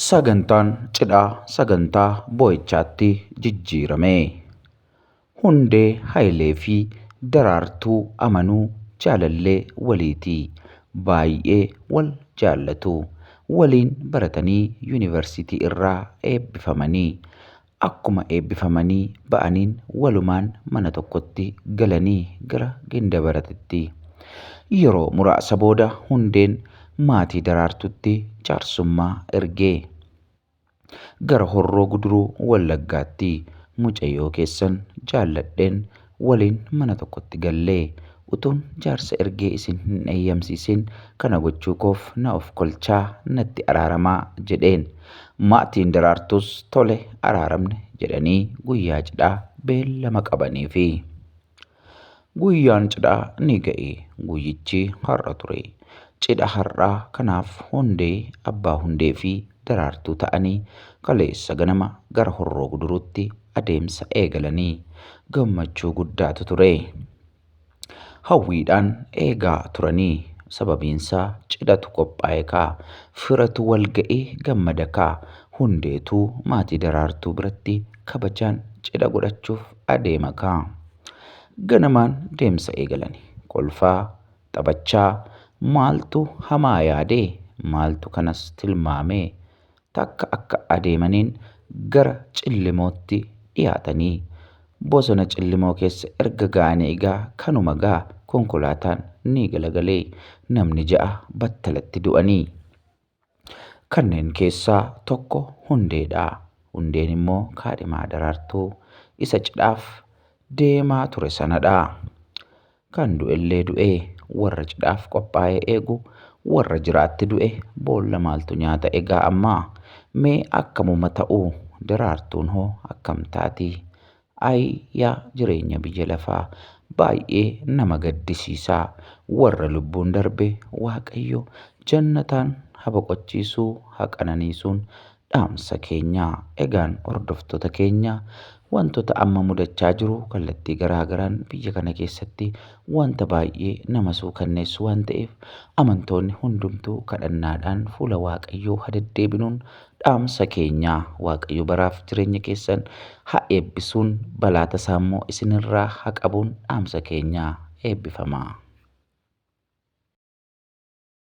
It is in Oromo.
Sagantaan cidhaa sagantaa boo'ichaatti jijjiirame. Hundee Hayilee fi Daraartuu Amanuu jaalallee waliiti. Baayyee wal jaallatu. Waliin baratanii yunivarsiitii irraa eebbifamani. Akkuma eebbifamanii ba'aniin walumaan mana tokkotti galanii gara Gindabaratitti. Yeroo muraasa booda Hundeen maatii Daraartuutti jaarsummaa erge. Gara Horroo Guduruu Wallaggaatti mucayyoo keessan jaalladheen waliin mana tokkotti galle. Utuun jaarsa ergee isin hin eeyyamsiisin kana gochuu koof na ofkolchaa, natti araaramaa jedheen. Maatiin Daraartuus tole araaramne jedhanii guyyaa cidhaa beellama qabaniifi. Guyyaan cidhaa ni ga'e. Guyyichi har'a ture. Cidha har'aa kanaaf Hundee, Abbaa Hundeefi Daraartuu ta'anii kaleessa ganama gara Horroo Guduruutti adeemsa eegalanii gammachuu guddaatu ture. Hawwiidhaan eegaa turanii sababiinsaa cidhatu qophaa'e kaa, firatu walga'ee gammada kaa, hundeetuu maatii Daraartuu biratti kabajaan cidha godhachuuf adeema kaa. Ganamaan deemsa eegalani. Kolfaa, taphachaa, maaltu hamaa yaadee, maaltu kanas tilmaamee takka akka adeemaniin gara Cillimootti dhiyaatanii bosona Cillimoo keessa erga ga'anii egaa kanuma gaa konkolaataan ni galagale. Namni ja'a battalatti du'anii. Kanneen keessaa tokko Hundeedha. Hundeen immoo kaadhimaa Daraartuu isa cidhaaf deemaa ture sanadha. Kan du'ellee du'ee warra cidhaaf qophaa'e eegu warra jiraatti du'e boolla maaltu nyaata egaa amma? Mee akkamuma ta'u Daraartuun hoo akkam taati? Ayi yaa jireenya biyya lafaa! Baay'ee nama gaddisiisa! Warra lubbuun darbe Waaqayyo jannataan ha boqochiisu ha qananiisuun dhaamsa keenya. Egaan hordoftoota keenya wantoota amma mudachaa jiru kallattii garaa garaan biyya kana keessatti wanta baay'ee nama suukanneessu waan ta'eef amantoonni hundumtuu kadhannaadhaan fuula Waaqayyoo ha deddeebinuun dhaamsa keenya. Waaqayyo baraaf jireenya keessan ha eebbisuun balaa tasaa immoo isinirraa ha qabuun dhaamsa keenya. Eebbifamaa.